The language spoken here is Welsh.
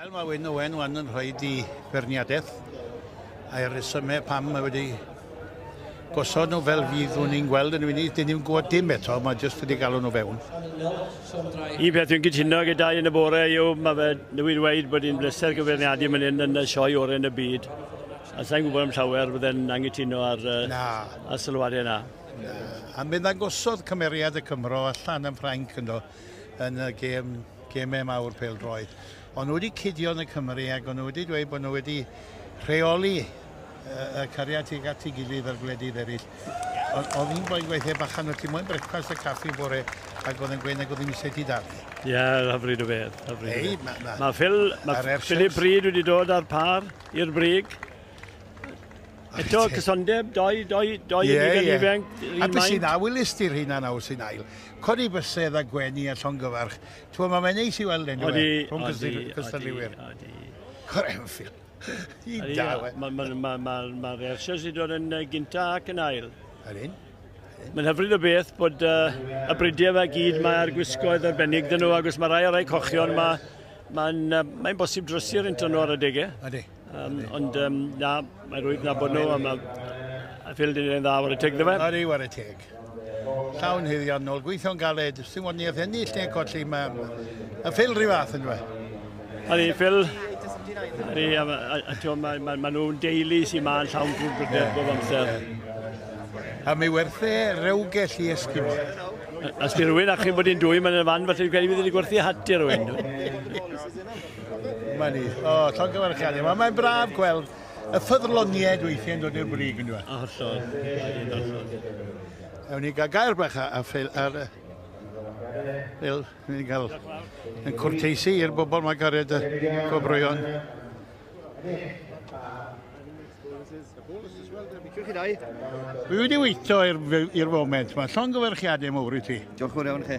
Wel, mae Wyn Owen wan yn rhoi di berniadaeth a'r rhesymau pam mae wedi gosod nhw fel fydd nhw'n i'n gweld yn y funud. Dyn ni'n gwybod dim eto, mae jyst wedi galw nhw fewn. Un peth dwi'n gytuno gyda yn y bore yw, mae fe newydd dweud bod hi'n bleser gyfeirniadu mynd hyn yn y sioe oren y byd. A sa'n gwybod am llawer fydde'n angytuno ar, uh, ar sylwadau yna. A mi ddangosodd cymeriad y Cymro allan yn Ffrainc ynddo yn y gêm, gemau mawr peldroed. Ond nhw wedi cydio yn y Cymru ac nhw wedi dweud bod nhw wedi rheoli y cariad tuag at ei gilydd ar gwledydd eraill. Ond oedd hi'n gwaith gweithio bachan o ti moyn brecwast a caffi bore ac oedd yn gweud nag oedd hi'n eisiau ti darllen. Ie, yeah, hyfryd o beth. Hyfryd Ei, mae ma, ma Phil, ma Philip Bryd wedi dod â'r par i'r brig. Eto, cysondeb, doi, doi, doi yeah, yn yeah. ifanc. A beth sy'n awylis di'r hyn a'n awyl sy'n ail? Codi bysedd a gwenu a llongyfarch. Ti'n mae mae'n neis i weld enw e. Rhwng cystadliwyr. Cor Enfield. I dawe. Mae'r Ersiau sy'n dod yn gynta ac yn ail. Yr un? Mae'n hyfryd o beth bod uh, y bridiau fe gyd mae'r gwisgoedd arbennig dyn nhw, agos mae rai o'r rhai cochion, mae'n mae, mae, mae bosib drysu'r un nhw ar y degau. Ydy. Um, ond um, na, mae rwy'n na bod nhw, a mae Phil dyn ni'n dda ar y teg, dda fe? Ari, ar y teg. Llawn hyddion nôl, gweithio'n galed, sy'n fod ni eich ennill neu colli, mae y Phil rhyw fath yn dweud. Ari, Phil, Ari, a, a, a, a ma, ma, ma nhw'n deulu sy'n ma'n llawn gwrdd brydedd bob amser. A mi werthu rewgell i esgimo. As di rwy'n achub bod i'n dwy, mae'n y fan, felly dwi'n credu fydd wedi gwerthu hat i rwy'n. Mae'n ni. O, llongyfarchiadau. Mae'n mae braf gweld y ffyddloniaid weithiau'n dod i'r brig yn dweud. Hollol. Ewn ni gael gair bach a, a ffeil ar... Fel, ni'n cael yn cwrteisi i'r bobl mae gared y gwobrwyon. Dwi wedi weithio i'r foment. Mae llongyfarchiadau mawr i ti. Diolch yn iawn chi.